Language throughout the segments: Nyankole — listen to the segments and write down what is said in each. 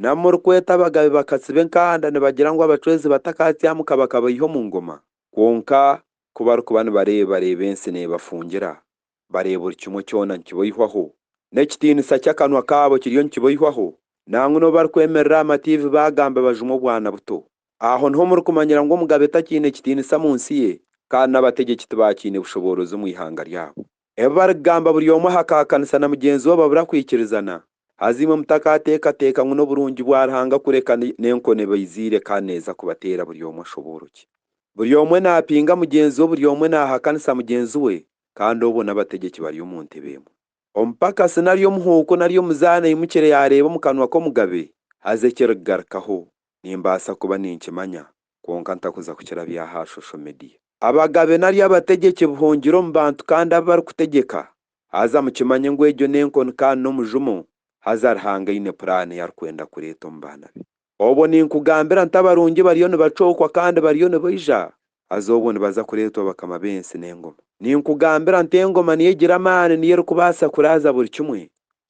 N'abu murikweta abagabe bakatsiba enkanda nibagira ngu abacwezi batakatyamuka bakabaiha omu ngoma, kwonka ku barikuba nibareeba bareeba ensi neebafungira, bareeba buri kimwe kyona nikibaihwaho, n'ekitiinisa ky'akanwa kaabo kiriyo nikibaihwaho, nangwa n'obu barikwemerera aha matiivi baagamba bajumwe obwana buto. Aho niho murikumanyira ngu omugabe takiine kitiinisa mu nsi ye, kandi n'abategyeki tibaakiine bushoboorozi omu ihanga ryabo. Ebi barikugamba buri omwe ahakaakanisa na mugyenzi we babura kwikirizana, haza imwe mutakaateekateeka ngu n'oburungi bwa Ruhanga kureka n'enkoni ebaiziire kandi neeza kubateera buri omwe ashobooroki? Buri omwe naapinga mugyenzi we, buri omwe naahakanisa mugyenzi we, kandi obwo n'abategyeki bari omu ntebe emwe. Omupakasi nari omuhuuku nari omuzaana aimukire yaareeba omu kanwa k'omugabe, haza ekirikugarukaho, nimbaasa kuba ninkimanya, kwonka ntakuza kukira bya ha shosho mediya. Abagabe nari abategyeki buhungire omu bantu kandi abu barikutegyeka, haza mukimanye ngu egyo n'enkoni kandi n'omujumo, haza Ruhanga aine puraani ei arikwenda kureeta omu baana be. Obwo ninkugambira nti abarungi bariyo nibacookwa kandi bariyo nibaija, haza obwo nibaza kureetwa bakama b'ensi n'engoma. Ninkugambira nti engoma niyo egira amaani niyo erikubaasa kuraaza buri kimwe,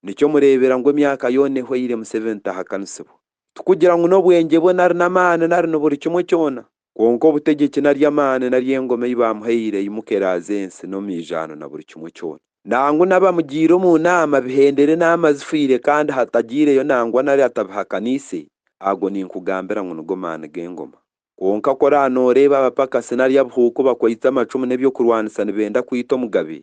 nikyo mureebera ngu emyaka yoona ehweire Museveni tahakanisibwa. Tikugira ngu n'obwengye bwe nari n'amaani nari ni buri kimwe kyona, kwonka obutegyeki nari amaani nari engoma ei baamuhaire eimuka eraaze ensi n'omwijaano na buri kimwe kyona. Nangwa n'abamugiire omu naama bihendere naama zifiire kandi hatagyireyo nangwa nari atabihakaniise, ago ninkugambira ngu nigo maani g'engoma. Kwonka ku oraabe nooreeba abapakasi nari abuhuuku bakwaitse amacumu n'eby'okurwanisa nibenda kwita omugabe,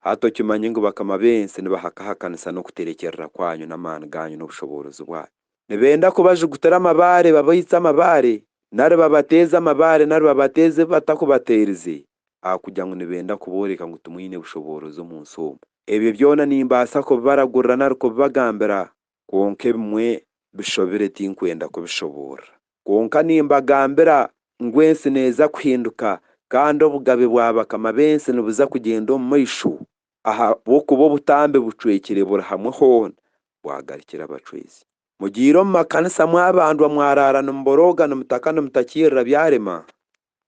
Hati okimanye ngu bakama b'ensi nibahakahakanisa n'okuterekyerera kwanyu n'amaani gaanyu n'obushoboorozi bwanyu. Nibenda kubajugutira amabaare babaitse amabaare, nari babateeze amabaare nari babateeze ebi batakubateerize, ahakugira ngu nibenda kubooreka ngu timwine bushoboorozi omu nsi omu. Ebyo byona nimbaasa kubibaragurira nari kubibagambira, Kwonka ebimwe bishobire tinkwenda kubishoboorora. Kwonka nimbagambira ngu ensi neeza kuhinduka kandi obugabe bwa bakama b'ensi nibuza kugyenda omu maisho, ahabw'okuba obutambi bucwekire buri hamwe hoona bwagarukire abacwezi. Mugiire omu makanisa mwabandwa mwaraara nimuborooga nimutaka nimutakiirira byarema,